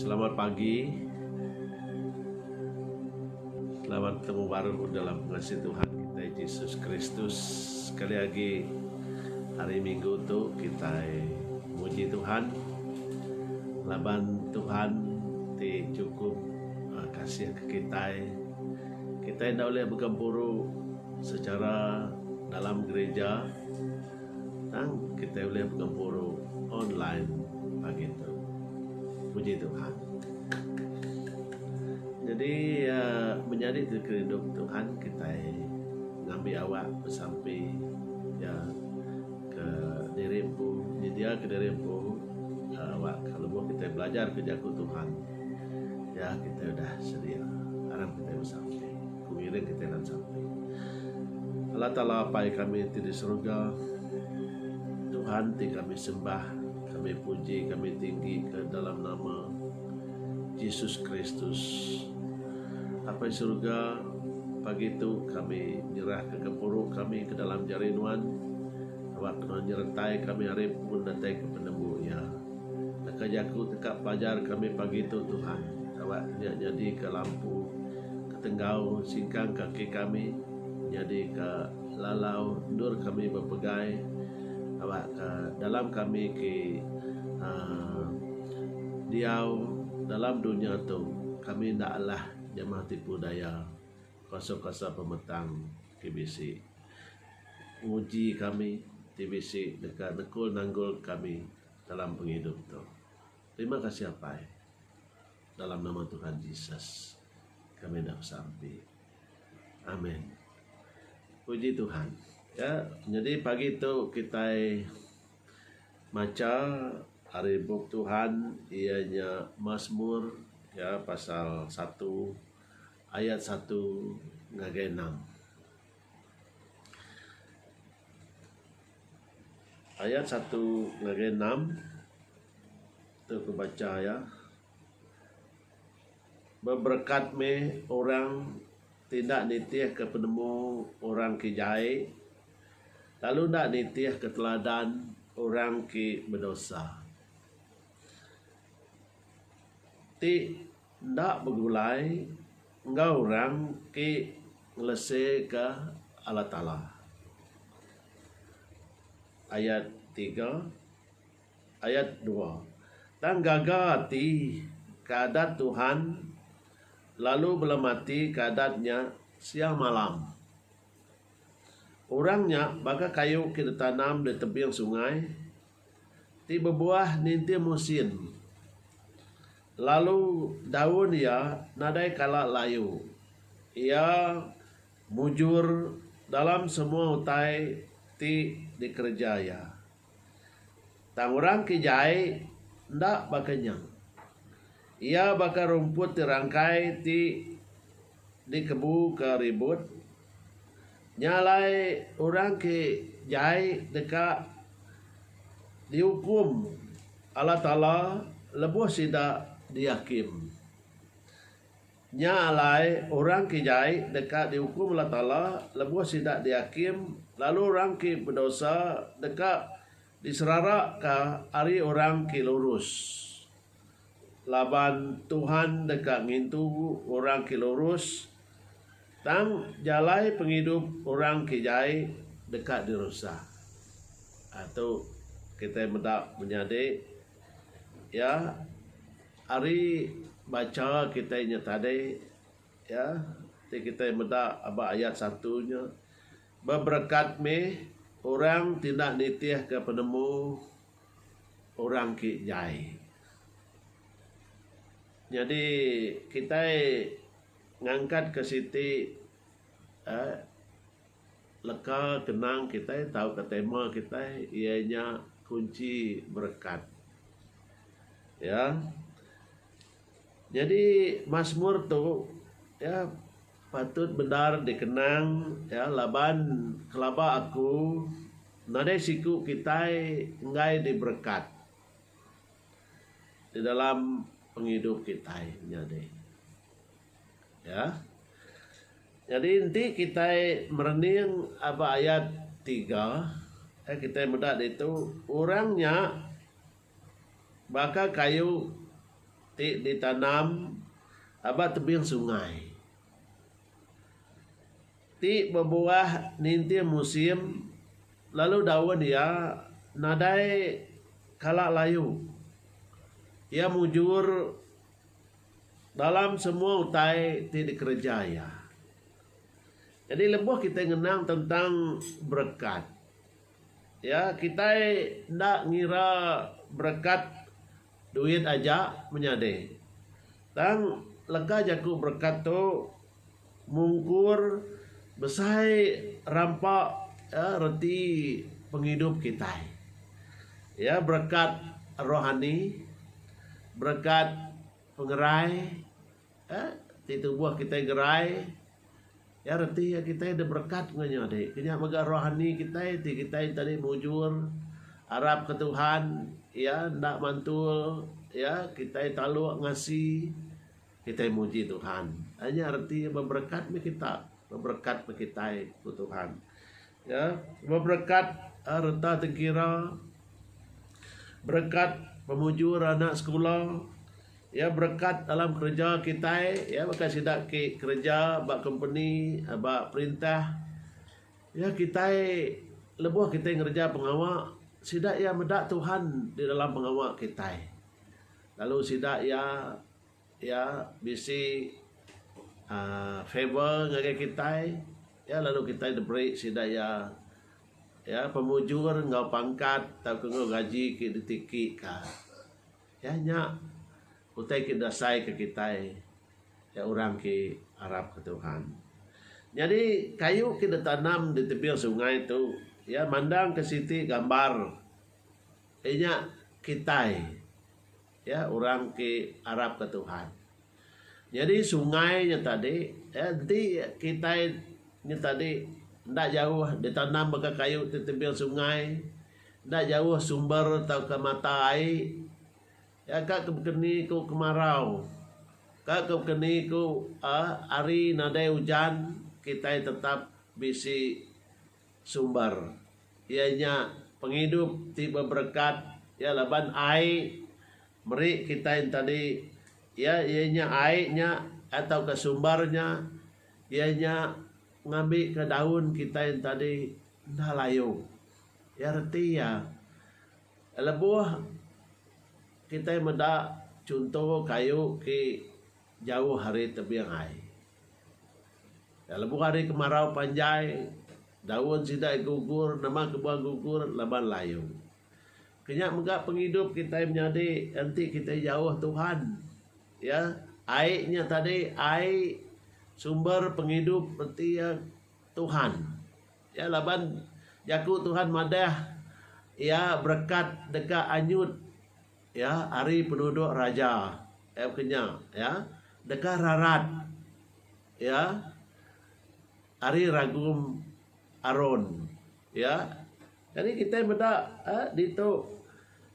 Selamat pagi. Selamat betemu baruh dalam pengasih Tuhan kitai Jesus Kristus. Sekali agi hari minggu tu kitai muji Tuhan laban Tuhan ti chukup kasih ka kitai. Kitai enda ulih begempuru secara dalam gerija tang kitai ulih begempuru online pagi tu. Puji Tuhan. Jadi menyadi ti kerindu Tuhan kitai ngambi awak besampi ya ke diri empu nyedia ke diri empu awak ke lebuh kitai belajar ke jaku Tuhan. Ya kita udah sedia aram kitai besampi ku ngiring kitai nan sampi. Allah Taala Apai kami ti di seruga Tuhan ti kami sembah kami puji kami tinggi ka dalam nama Jesus Kristus. Apai seruga pagi tu kami nyerah ka gempuru kami ka dalam jari nuan awak nuan nyeretai kami ari pun datai ka penemu iya. Deka jaku teka pelajar kami pagi tu Tuhan. Tawa nya nyadi ka lampu ke tenggau singkang kaki kami, nyadi ka lalau endur kami bepegai, tawa ka dalam kami ki aaa diau dalam dunya tu kami enda alah jamah tipu daya kuasa-kuasa pemetang ti bisi nguji kami ti bisi deka nekul nanggul kami. Dalam pengidup tu. Terima kasih Apai. Dalam nama Tuhan Jesus kami enda besampi. Amen. Puji Tuhan. Ya, jadi pagi tu kitai macha ari bup Tuhan ia nya Mazmur ya pasal 1 ayat 1 ngagai 6. Ayat satu ngagai enam tu ku bacha iya beberekat meh orang ti enda nitihka penemu orang ti jai lalu enda nitihka teladan orang ti bedosa. Ti Enda begulai enggau orang ti ngeleseka Allah Taala. Ayat tiga, ayat dua. Tang gaga ati ke adat Tuhan lalu belemati ke adat nya siang malam. Orang nya baka kayu ke ditanam di tebing sungai. Ti bebuah ninting musin. Lalu daun iya nadai kala layu. Iya mujur dalam semua utai ti dikereja iya. Tang orang ke jai enda baka nya. Iya baka rumput ti rangkai ti Dikebu ke ribut. Nya alai orang ke jai deka diukum Allah Taala lebuh sida diakim. Nya alai orang ke jai deka diukum Allah Taala lebuh sida diakim lalu orang ke bedosa deka Diseraraka ari orang ti lurus. Laban Tuhan deka ngintu orang ti lurus, tang jalai pengidup orang ti jai deka dirusa. Ari tu kitai meda menyadi iya ari bacha kitai nya tadi iya ti kitai meda aba ayat satu nya. Beberekat mih orang ti enda nitihka penemu orang ke jai. Nyadi kitai ngangkatka siti uhh leka kenang kitai tauka tema kitai iya nya kunchi berekat. Iya. Nyadi Masmur tu iya patut bendar dikenang iya laban kelaba aku nadai siku kitai enggai diberekat di dalam pengidup kitai nyadi iya. Nyadi enti kitai merening aba ayat tiga kitai meda ditu orang nya Baka kayu ti ditanam ba tebing sungai ti bebuah ninting musim lalu daun iya nadai kala layu. Iya mujur dalam semua utai ti dikereja iya. Jadi lebuh kitai ngenang tentang berekat. Ya, kitai enda ngira berekat duit aja menyadi. Tang leka jaku berekat tu mungkur besai rampa reti pengidup kitai. Ya, berekat rohani, berekat pengerai. Ka ti tubuh kitai gerai iya reti iya kitai deh berekat enggau nya adi. Ke nya mega rohani kitai ti kitai enti adi mujur arap ke Tuhan iya enda mantul iya kitai taluk ngasi kitai muji Tuhan. Nya reti berekat meh kita berekat meh kitai ku Tuhan. Ya, beberekat a reta tengkira, berekat pemujur anak sekula, ya berekat dalam kereja kitai, ya baka sida ke kereja ba kompeni, ba perintah, ya kitai lebuh kitai ngereja pengawa sida iya meda Tuhan di dalam pengawa kitai. Lalu sida iya. Iya bisi uhh favour ngagai kitai iya lalu kitai diberi sida iya iya pemujur enggau pangkat tauka enggau gaji ke ditiki ka. Iya nya utai ke diasai ka kitai iya orang ke arap ka Tuhan. Nyadi kayu ke ditanam di tebing sungai tu iya mandang ke siti gambar inya kitai. Ya, orang ti arapka Tuhan. Nyadi sungai nya tadi, ya, enti kitai nya tadi enda jauh ditanam baka kayu ti timbil sungai, enda jauh sumber tauka mata ai, ya, ka ke bekeni ku kemarau, ka ke bekeni ku, aa, hari nadai ujan, kitai tetap bisi. Sumber iya nya pengidup ti beberekat iya laban ai meri kitai enti tadi iya iya nya ai nya tauka sumber nya iya nya ngambi ka daun kitai enti tadi enda layu iya reti iya lebuh kitai meda chunto kayu ke jauh ari tebing ai. Lebuh hari kemarau panjai daun sida gugur nama kebuah gugur laban layu. Kenya mega pengidup kitai menyadi enti kitai jauh Tuhan iya ai nya tadi ai sumber pengidup reti iya Tuhan. Iya laban jaku Tuhan madah iya berekat deka anyut Iya ari penuduk raja iya bukan nya iya deka rarat iya ari ragum Aron iya jadi kitai meda uhh ditu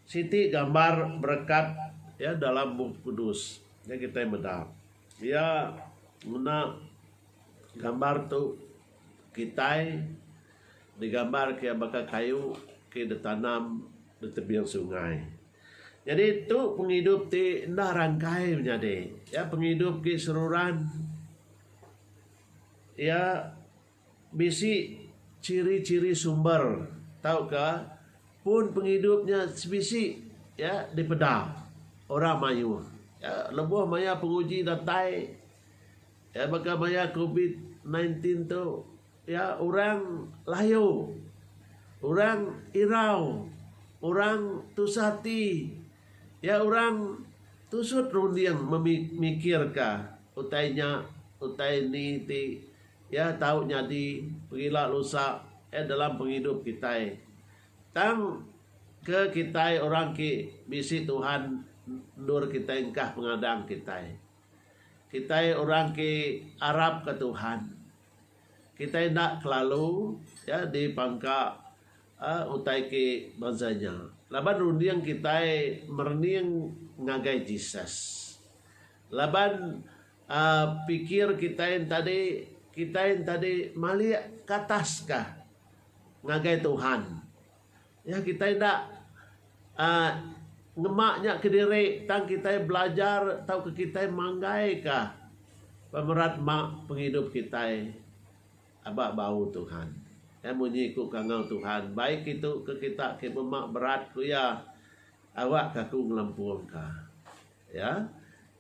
siti gambar berekat iya dalam bup kudus nya kitai meda iya ngena gambar tu. Kitai digambar ke baka kayu ke ditanam di tebing sungai. Nyadi tu pengidup ti enda rangkai menyadi. Iya pengidup ti seruran. Iya bisi ciri-ciri sumber tauka pun pengidup nya sebisi iya dipeda orang mayuh. Lebuh maya penguji datai. Iya baka maya covid nine tin tu iya orang layu, orang irau, orang tusah ati, iya orang tusut runding memikirka utai nya utai ni ti iya tau nyadi pengila lusa eh dalam pengidup kitai. Tang ke kitai orang ti bisi Tuhan endur kitai engkah pengadang kitai. Kitai orang ke arap ke Tuhan kitai enda kelalu ya dipangka uhh utai ke bansa nya laban runding kitai merening ngagai Jesus. Laban uhh pikir kitai tadi kitai tadi malik ke atas kah ngagai Tuhan. Iya kitai enda uhh ngema nya kediri tang kitai belajar tauka kitai manggaika pemerat ma pengidup kitai aba bau Tuhan. Iya munyi ku kangau Tuhan, baik kitu ke kita ke bema berat ku iya, awakka aku ngelempungka. Ya.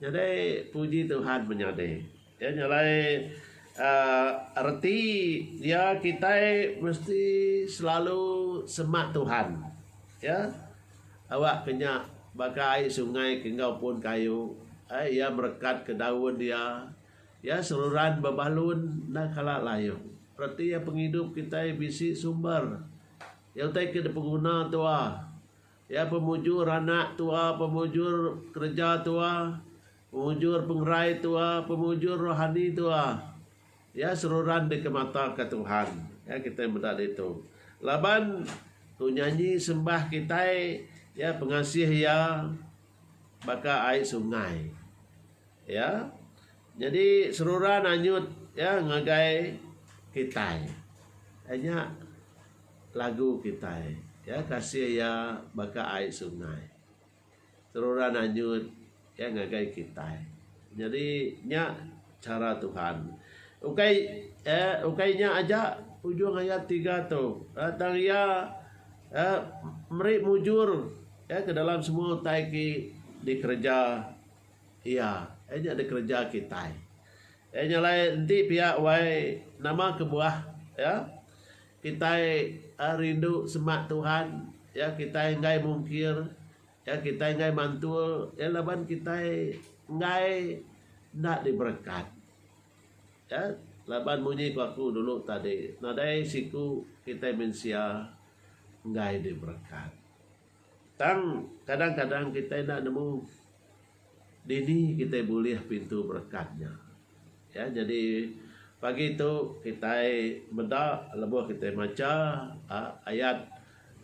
Nyadi puji Tuhan menyadi. Ya nya alai uhh reti dia kitai mesti selalu semak Tuhan. Ya. Awak ke nya baka ai sungai ke enggau pun kayu. Ai iya merekat ke daun iya. Ya seruran bebalun enda kala layu. Reti pengidup kitai bisi sumber. Iya utai ke dipenguna tuah. Iya pemujur anak tua, pemujur kereja tua, pemujur pengerai tua, pemujur rohani tua. Iya seruran dikemataka Tuhan. Ya kitai meda ditu. Laban ku nyanyi sembah kitai ya pengasih iya baka ai sungai. Ya. Nyadi seruran anyut ya ngagai kitai. Nya Lagu kitai ya kasih ya baka ai sungai teruran anyut ya ngagai kitai nyadi nya chara Tuhan ukai ya ukai nya aja ujung ayat tiga tu tang iya ya meri mujur ya ke dalam semua utai ti dikereja iya ya nya dikereja kitai ya nya alai enti pia wai nama kebuah ya. Kitai rindu semak Tuhan, ya kitai enggai mungkir, ya kitai enggai mantul, ya laban kitai enggai enda diberekat. Ya, laban munyi ku aku dulu tadi, nadai siku kitai mensia enggai diberekat. Tang, kadang-kadang kitai enda nemu dini kitai bulih pintu berekat nya. Ya, nyadi pagi tu kitai meda lebuh kitai macha aaa ayat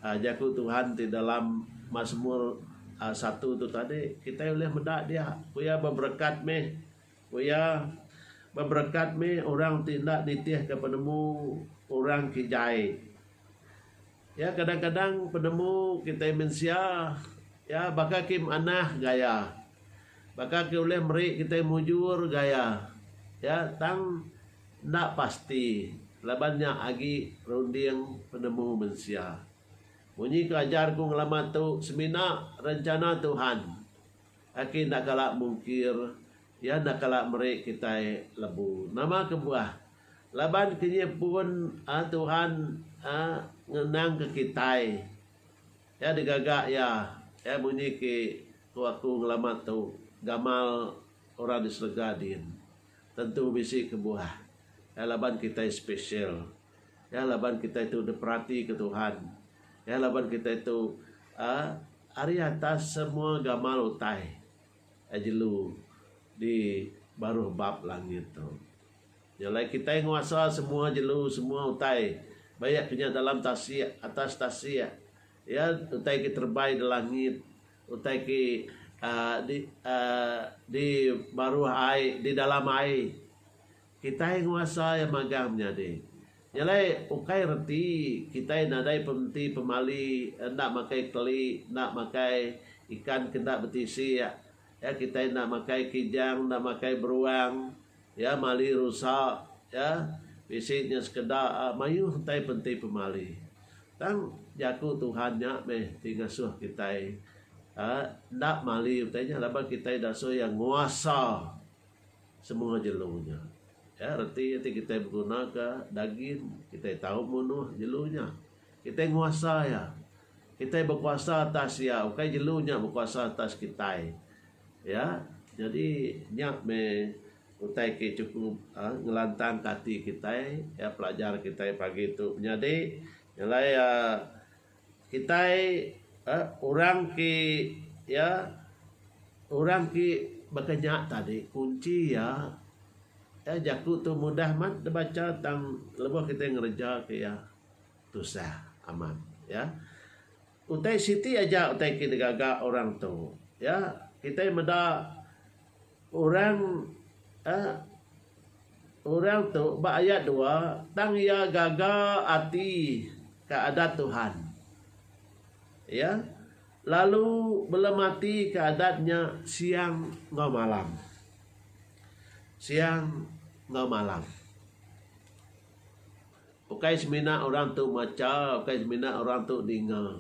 aaa Jaku Tuhan ti dalam Masmur aaa satu tu tadi, kitai ulih meda dia. Ku iya beberekat mih. Ku iya, Beberekat mih orang ti enda nitihka penemu orang kijaie. Ya kadang-kadang penemu kitai mensia ya baka ke manah gaya baka ke ulih meri kitai mujur gaya ya tang enda pasti laban nya agi runding penemu mensia. Munyi ke ajar ku ngelama tu semina rencana Tuhan aki enda kala mungkir. Iya enda kala meri kitai lebu. Nama kebuah? Laban kenyih pun Tuhan ngenangka kitai. Iya digaga Iya. Iya munyi ke ku aku ngelama tu, gamal orang di serega din. Tentu bisi kebuah. Iya laban kitai special. Iya laban kitai tu diperatika Tuhan. Iya laban kitai tu ari atas semua gamal utai. Ai jelu di baruh bab langit tu. Nya alai kitai nguasa semua jelu, semua utai. Bayak ke nya dalam tasik, atas tasik. Ya, utai ke terebai di langit, utai ke uhh di uhh di baruh ai, di dalam ai. Kitai nguasa iya magang menyadi. Nya alai ukai reti kitai nadai pementi pemali enda makai keli, enda makai ikan ke enda betisi iya. Iya kitai enda makai kijang, enda makai beruang, iya mali rusa, iya bisi nya sekeda mayuh utai penti pemali. Tang jaku Tuhan nya meh ti ngasuh kitai enda mali utai nya laban kitai dasuh iya nguasa. Semua jelu nya. Ya, reti iya ti kitai begunaka dagin, kitai tau munuh jelu nya. Kitai nguasa iya. Kitai bekuasa atas iya, ukai jelu nya bekuasa atas kitai. Ya, nyadi nya meh utai ke chukup uhh ngelantangka ati kitai. Ya, pelajar kitai pagi tu menyadi, nyelai uhh. Kitai orang ti iya orang ti baka nya tadi kunchi iya jaku tu mudah amat dep bacha tang lebuh kitai ngereja ke iya tusah amat iya. Utai siti aja utai ti digaga orang tu iya kitai meda Orang a Orang tu ba ayat dua tang iya gaga ati ka adat Tuhan. Iya lalu belemati ka adat nya siang enggau malam. Siang enggau malam. Ukai semina orang tu macha, ukai semina orang tu ninga.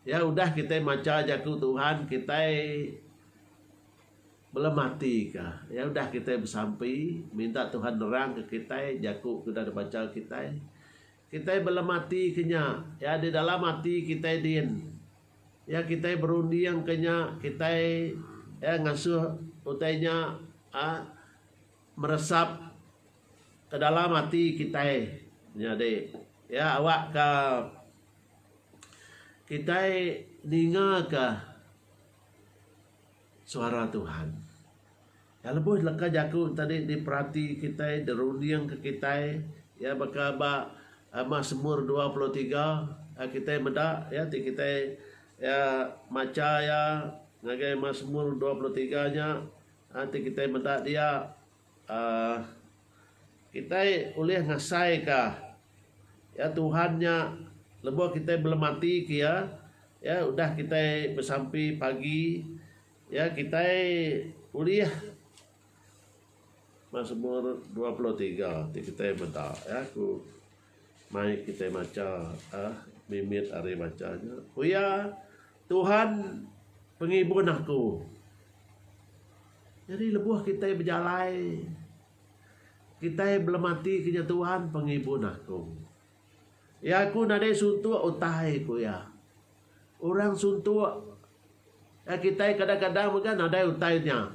Iya udah kitai macha Jaku Tuhan, kitai belem mati ka. Iya udah kitai besampi, minta Tuhan nerangka kitai Jaku ke udah dibacha kitai. Kitai belem mati ke nya. Iya di dalam ati kitai din. Iya kitai berunding ke nya, kitai iya ngasuh utai nya aaa meresap. Ke dalam ati kitai nyadi iya awakka kitai ningaka suara Tuhan. Iya lebuh leka jaku tadi diperati kitai, dirundingka kitai iya baka ba Masmur dua puluh tiga kitai meda iya ti kitai iya macha iya ngagai Masmur dua puluh tiga nya ti kitai meda dia. Kitai ulih ngasaika iya Tuhan nya lebuh kitai belematika iya udah kitai besampi pagi iya kitai ulih Masmur dua puluh tiga ti kitai meda iya ku. Mai kitai macha ah mimit ari bacha nya. Ku iya, Tuhan pengibun aku. Nyadi lebuh kitai bejalai, kitai belematika nya Tuhan pengibun aku. Iya ku nadai suntuk utai ku iya. Orang suntuk kitai kadang-kadang mega nadai utai nya.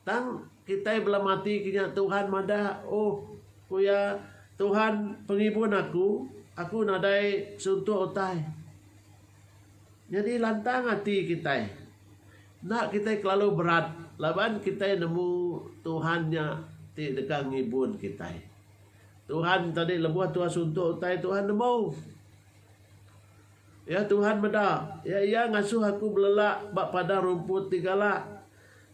Tang kitai bela mati ke nya Tuhan madah oh ku iya Tuhan pengibun aku aku nadai suntuk utai. Nyadi lantang ati kitai enda kitai kelalu berat laban kitai nemu Tuhan nya ti deka ngibun kitai. Tuhan tadi lebuh Tuhan suntuk utai Tuhan nemu iya Tuhan meda iya iya ngasuh aku belelak ba padang rumput ti galak.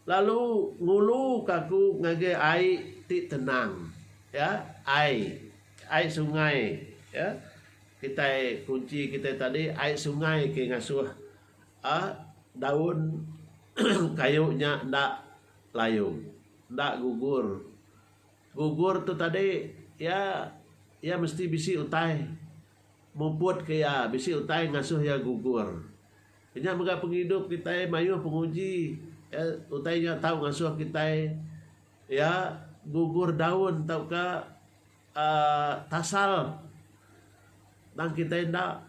Lalu ngulu ka aku ngagai ai ti tenang. Ya, ai. Ai sungai. Ya, kitai kunchi kitai tadi ai sungai ke ngasuh uhh daun kayu nya enda layum, enda gugur. Gugur tu tadi ya, ya mesti bisi utai muput ke ya, bisi utai ngasuh ya gugur. Nya mega pengidup kitai mayuh penguji iya utai nya tau ngasuh kitai iya gugur daun tauka aaa tasal tang kitai enda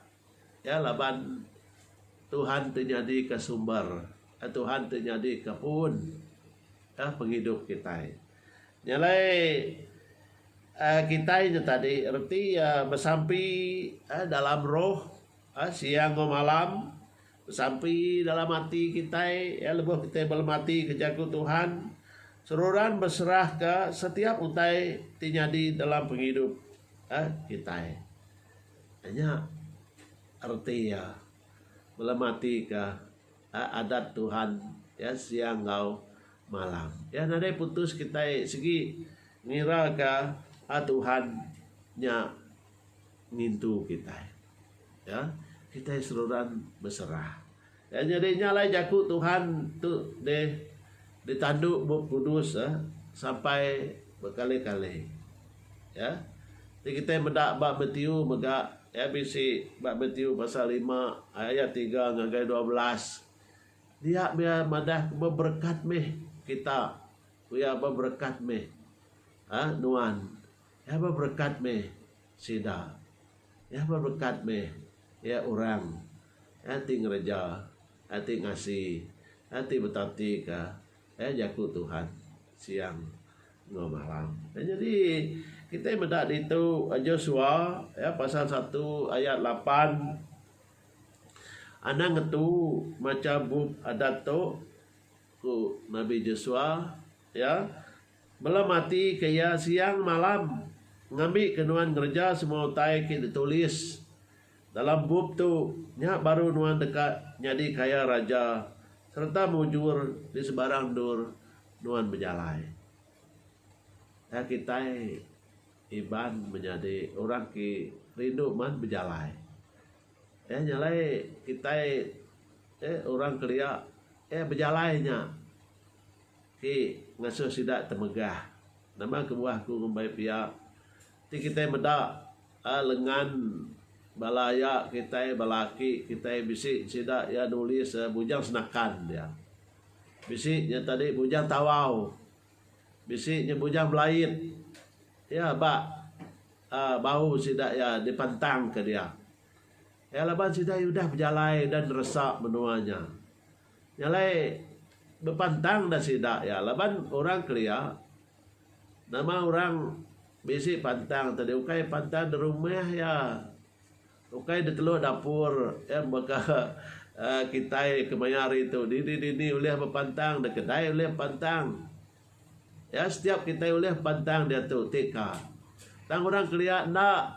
iya laban Tuhan ti nyadika sumber Tuhan ti nyadika puun ka pengidup kitai. Nya alai aaa kitai nya tadi reti aaa besampi dalam roh. Asia enggau malam besampi dalam ati kitai iya lebuh kitai belemati ke jaku Tuhan seruran beserahka setiap utai ti nyadi dalam pengidup kitai. Nya reti iya belematika adat Tuhan iya siang enggau malam. Iya nadai putus kitai sigi ngiraka Tuhan nya. ngintu kitai. Ya, kitai seruran beserah. Ya, nyadi nya alai jaku Tuhan tu deh ditandu Bup Kudus eh sampai bekali-kali. Ya. Ti kitai meda ba Matiu mega ya bisi ba Matiu pasal lima ayat tiga ngagai dua belas. Dia bia madah beberekat meh kita. Ku iya beberekat meh nuan. Iya beberekat meh sida. Iya beberekat meh iya orang iya ti ngereja, iya ti ngasi, iya ti betatika iya jaku Tuhan siang enggau malam. Nyadi kitai meda ditu Joshua iya pasal satu ayat lapan anang ngetu macha bup Adat tu ku Nabi Joshua iya Belem ati ke iya siang malam ngambi ke nuan ngereja semua utai ke ditulis dalam bup tu nya baru nuan deka nyadi kaya raja sereta mujur di sebarang endur nuan bejalai. Tang kitai Iban menyadi orang ke rindu man bejalai. Iya nya alai kitai orang kelia bejalai nya. Ti ngasuh sida temegah. Nama kebuah aku ngumbai pia? Ti kitai meda lengan bala iya kitai bala aki kitai bisi sida iya nulis Bujang Senakan dia. Bisi nya tadi Bujang Tawau. Bisi nya Bujang Belait. Iya ba bau sida iya dipentangka dia. Iya laban sida iya udah bejalai udah neresa menua nya. Nya alai bepantang dah sida iya laban orang kelia nama orang bisi pantang tadi ukai pantang di rumah iya ukai di telu dapur iya baka kitai kemaya hari tu dini dini ulih bepantang di kedai ulih bepantang. Iya setiap kitai ulih pantang diatu ti ka. Tang orang kelia enda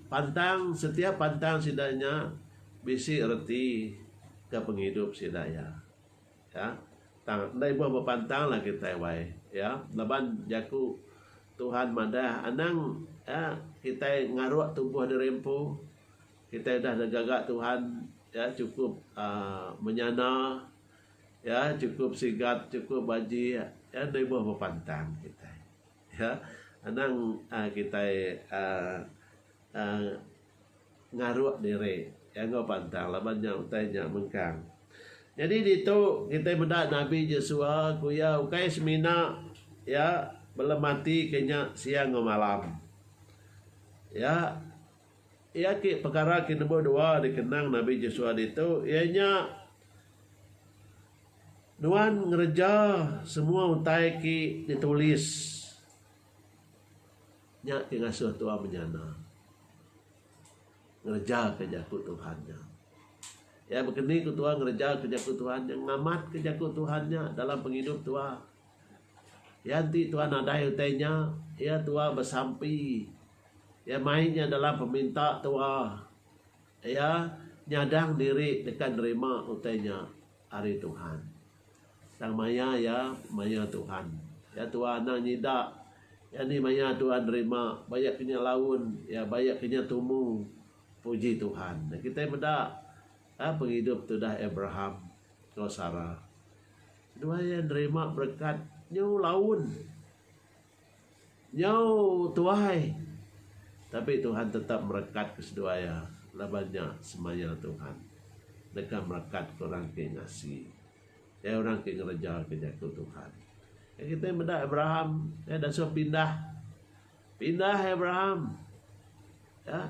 pantang setiap pantang sida nya bisi reti ke pengidup sida iya. Iya tang enda ibuh bepantang lah kitai wai iya laban jaku Tuhan madah anang iya kitai ngaruk tubuh diri empu kitai udah digaga Tuhan iya cukup aaa menyana. iya chukup sigat chukup baji iya enda ibuh bepantang kitai iya anang um kitai um um ngaruk diri iya enggau pantang laban nya utai nya mengkang. Nyadi ditu kitai meda nabi Jesua ku iya ukai semina iya belematika nya siang enggau malam iya Iya agi pekara ke number dua dikenang Nabi Jesua ditu iya nya nuan ngereja semua utai ti ditulis. Nya ti ngasuh tua menyana ngereja ke jaku Tuhan nya. Iya baka ni ku tua ngereja ke jaku Tuhan nya ngamat ke jaku Tuhan nya dalam pengidup tua. Iya enti tuan nadai utai nya, iya tua besampi. Iya mai nya dalam peminta tua. Iya nyadang diri deka nerima utai nya ari Tuhan. Tang maya iya maya Tuhan. Iya tua anang nyida. Iya ni maya tua nerima ba iya kinya laun, iya ba iya kinya tumu. Puji Tuhan. Kitai meda pengidup tudah Abraham enggau Sarah. Seduai iya nerima berekat nyau laun, nyau tuai, tapi Tuhan tetap merekatka seduai iya laban nya semaya Tuhan deka merekatka orang ti ngasi, iya orang ti ngerejaika Jaku Tuhan. Iya kitai meda Abraham, iya disuh pindah. Pindah Abraham iya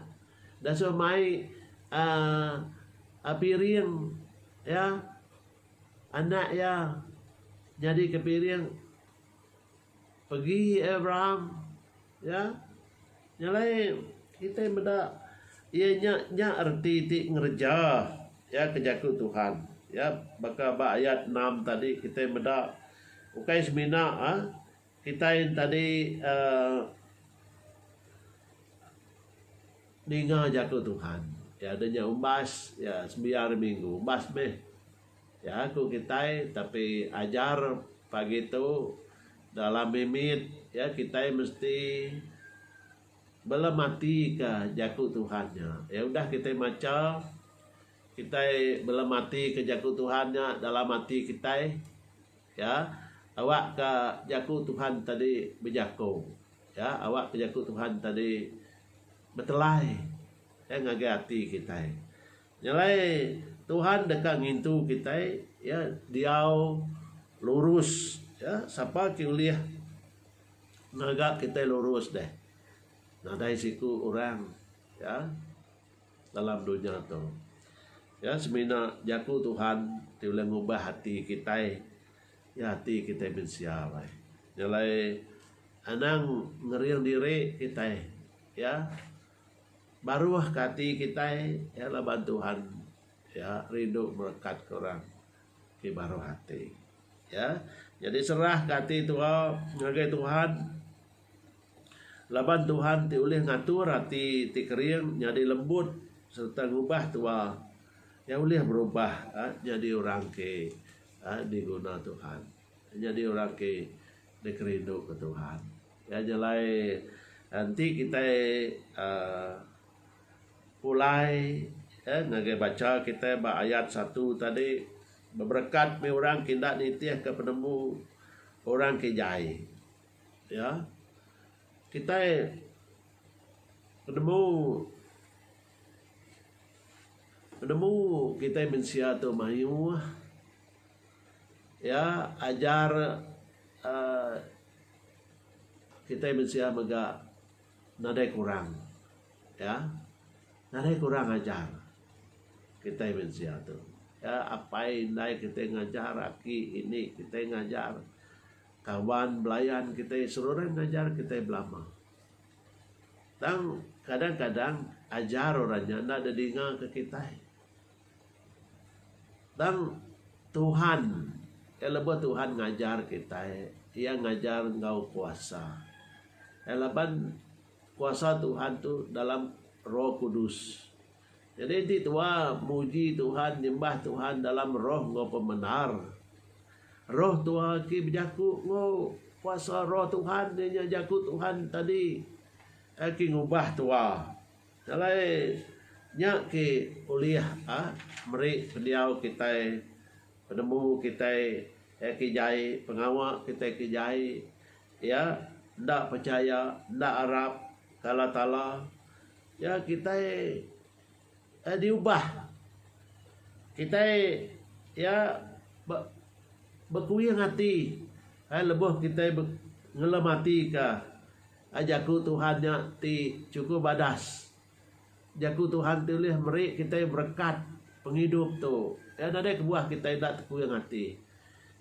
disuh mai uhh piring iya. Anak iya nyadi ke piring pegi Abraham iya nyelai kitai meda iya nya nya reti ti ngereja iya ke jaku Tuhan iya baka ba ayat enam tadi kitai meda ukai semina Kitai entadi ninga jaku Tuhan. Iya deh nya umbas iya sembiang hari minggu. Umbas meh iya ku kitai tapi ajar pagi tu dalam mimit iya kitai mesti belem atika jaku Tuhan nya. Iya udah kitai macha kitai belem atika jaku Tuhan nya dalam ati kitai. Ya, awakka jaku Tuhan tadi bejako. Ya, awakka jaku Tuhan tadi betelai ya ngagai ati kitai. Nya alai Tuhan deka ngintu kitai ya diau lurus ya sapa ke ulih ngaga kitai lurus deh. Nadai siku orang ya. dalam dunya tu. Iya semina jaku Tuhan ti ulih ngubah ati kitai, iya ati kitai mensia alai. Nya alai anang ngering diri kitai iya baruhka ati kitai iya laban Tuhan iya rindu merekatka orang ti baruh ati. Iya, nyadi serahka ati tua ngagai Tuhan. Laban Tuhan ti ulih ngatur ati ti kering nyadi lembut sereta ngubah tua iya ulih berubah nyadi orang ke diguna Tuhan nyadi orang ke dikerindu ke Tuhan. Iya nya alai enti kitai uhh pulai uhh ngagai bacha kitai ba ayat satu tadi beberekat mih orang ke enda nitihka penemu orang ke jai. Iya, kitai penemu penemu kitai mensia tu mayuh. Iya, ajar uhh kitai mensia mega nadai kurang. Iya, nadai kurang ajar kitai mensia tu. Iya, apai indai kitai ngajar, aki indi kitai ngajar. Kawan belayan kitai seruran ngajar kitai belama. Tang kadang kadang ajar orang nya enda ada dinga ke kitai. Tang Tuhan iya lebuh Tuhan ngajar kitai iya ngajar enggau kuasa. Iya laban kuasa Tuhan tu dalam roh kudus. Jadi enti tua muji Tuhan nyembah Tuhan dalam roh enggau pemendar, roh tua ki bejaku enggau kuasa roh Tuhan iya nya jaku Tuhan tadi iya ki ngubah tua. Alai nya ki ulih meri pendiau kitai penemu kitai iya ki jai pengawa kitai ki jai iya enda pechaya enda arap ke Allah Taala. Ya kitai eh diubah kitai ya ba bekuing ati eh lebuh kitai be ngelematika eh jaku Tuhan nya ti chukuk badas. Jaku Tuhan ti ulih meri kitai berekat pengidup tu. Ya nadai kebuah kitai enda tekuing ati.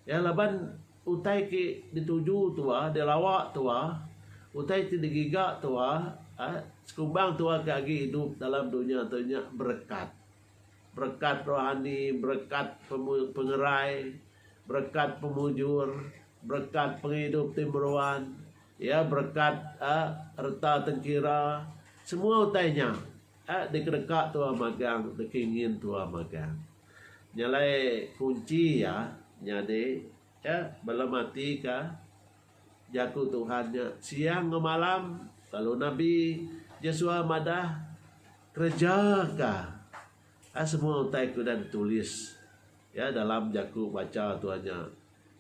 Ya laban. Utai ke dituju tua dek lawa tua, utai ti digiga tua sekumbang tua ke agi idup dalam dunya tu nya berekat. Berekat rohani, berekat pengerai, berekat pemujur, berekat pengidup ti meruan, iya berekat uhh reta tengkira, semua utai nya uhh dikedeka tua magang dikingin tua magang. Nyelai kunchi iya nyadi ke belum ati ke Jaku Tuhan nya siang enggau malam lalu nabi Jesua madah kereja ka semua utai ke udah ditulis iya dalam jaku bacha tua nya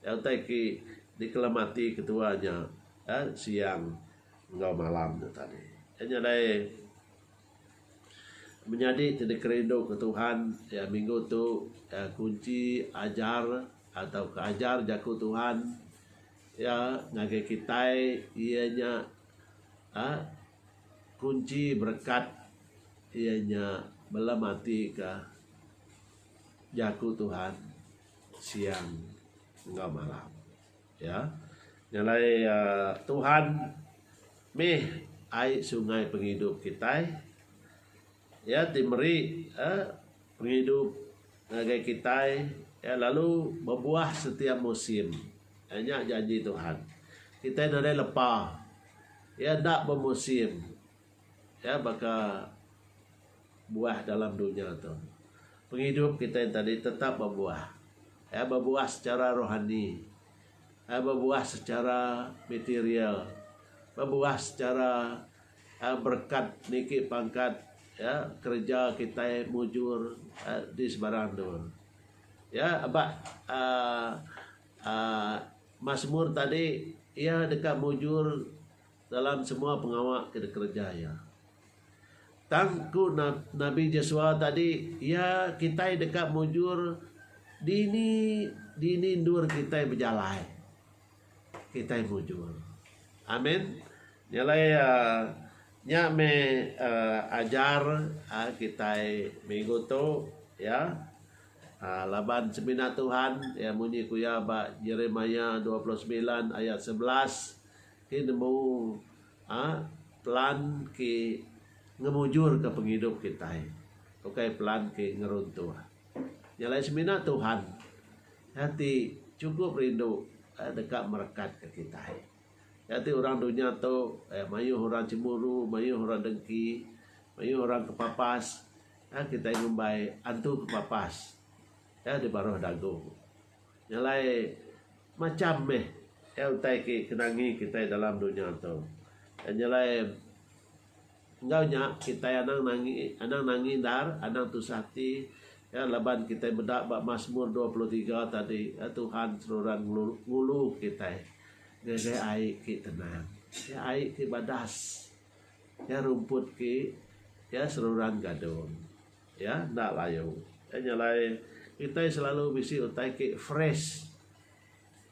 utai ke dikelem ati ketua nya siang enggau malam nya tadi. Nyelai. Menyadi ti dikerinduka Tuhan iya minggu tu adalah kunchi ajar atau ajar jaku Tuhan iya ngagai kitai iya nya uhh kunchi berekat iya nya bala mati ka jaku Tuhan siang enggau malam. Ya, nya alai Tuhan mih ai sungai pengidup kitai. Iya ti meri pengidup ngagai kitai lalu bebuah setiap musim. Nya janji Tuhan. Kitai nadai lepa. Iya enda bemusim. Iya baka buah dalam dunya tu. Pengidup kitai enti tadi tetap bebuah. Kaii bebuah secara rohani. Kaii bebuah secara material. Bebuah secara aaa berekat niki pangkat iya kereja kitai mujur di sebarang endur. Iya aba aaa aaa Masmur tadi iya deka mujur Dalam semua pengawa ke dikereja iya. Tang ku Nabi Jesua tadi, iya kitai deka mujur dini dini endur kitai bejalai. Kitai mujur. Amin. Nya alai uhh nya meh uhh ajar uhh kitai minggu tu iya. Uhh laban semina Tuhan iya munyi ku iya ba Jeremiah dua puluh semilan ayat sebelas Ti nemu a pelan ke ngemujurka pengidup kitai ukai pelan ke ngeruntuh. Nya alai semina Tuhan iya ti chukup rindu iya deka merekatka kitai. Iya ti orang dunya tu mayuh orang chemburu, mayuh orang dengki, mayuh orang kepapas. Kitai ngumbai antu kepapas iya di baruh dagu. Ngalai macham meh iya utai ke kenangi kitai dalam dunya tu. Njalai enggau nya kitai anang nangi anang nangi endar anang tusah ati iya laban kitai meda ba Masmur dua puluh tiga tadi iya Tuhan seruran ngulu kitai ngagai ai ke tenang. Iya ai ke badas. Iya rumput ke iya seruran gadung. Iya enda layu. Iya nya alai kitai selalu bisi utai ki fresh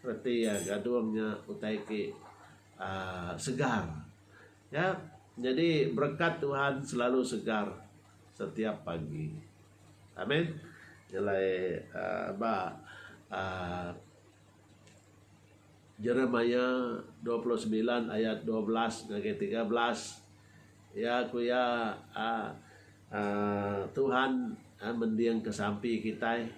reti iya gadung nya utai ki aaa segar. Iya nyadi berekat Tuhan selalu segar setiap pagi. Amen. Nya alai aaa ba aaa Jeremia dua puluh semilan ayat dua belas ngagai tiga belas iya ku iya um Tuhan mending ke sampi kitai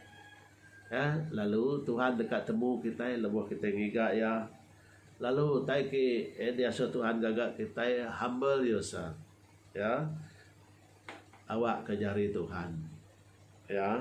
um lalu Tuhan deka temu kitai lebuh kitai ngiga iya lalu utai ke diasuh Tuhan ngaga kitai humble yourself um awakka jari Tuhan um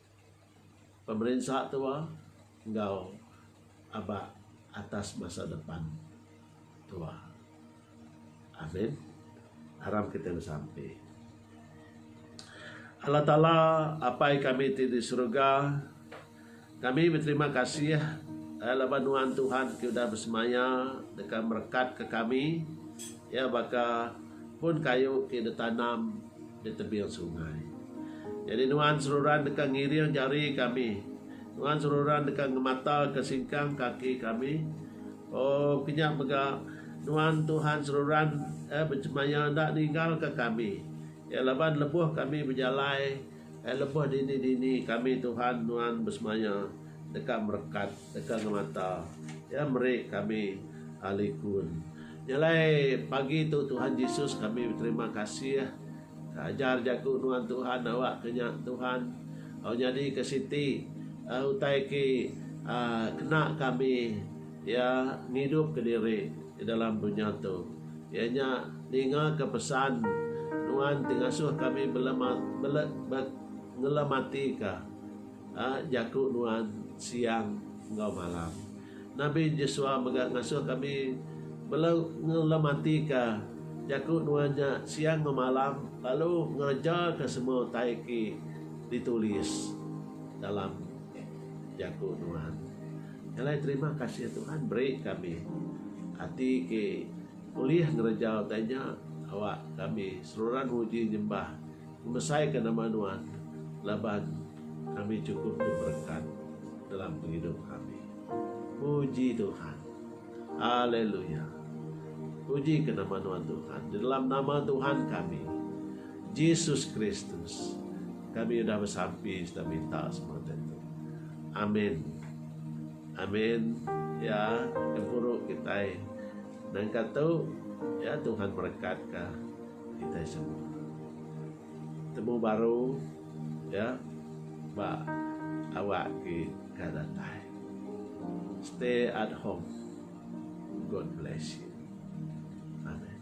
pemerinsa tua enggau aba atas masa depan tua. Amin. Aram kitai besampi. Allah Taala Apai kami ti di serega, kami beterima kasih eh laban nuan Tuhan ti udah besemaya deka merekatka kami iya baka pun kayu ti ditanam Di tebing sungai. Nyadi nuan seruran deka ngiring jari kami. Nuan seruran deka ngemataka singkang kaki kami. Oh, kenyap mega Nuan Tuhan seruran eh bechemaya enda ninggalka kami. Iya laban lebuh kami bejalai. Ai lebuh dini-dini kami Tuhan nuan besemaya deka merekat deka ngemata Iya meri kami likun. Nya alai pagi tu Tuhan Jesus kami beterima kasih ke ajar jaku nuan Tuhan awakka nya Tuhan au nyadika siti utai ke kena kami Iya ngidupka diri di dalam dunya tu. Iya nya ningaka pesan Nuan ti ngasuh kami belematika jaku Nuan siang enggau malam. Nabi Jesua mega ngasuh kami belematika jaku Nuan nya siang enggau malam lalu ngerejaka semua utai ti ditulis dalam jaku Nuan. Alai terima kasih Tuhan beri kami ati ke ulih ngereja utai nya awak kami seruran muji nyembah ngemesai ka nama nuan laban kami cukup diberekat dalam pengidup kami. Muji Tuhan. Haleluya. Puji ke nama nuan Tuhan. Di dalam nama Tuhan kami Jesus Kristus kami udah besampi serta minta semua tentu. Amin. Amin. Ya, kempuru kita. Nang katu ya Tuhan berkat ka kita semua. Temu baru iya ba awak ti ka datai. Stay at home. God bless you. Amen.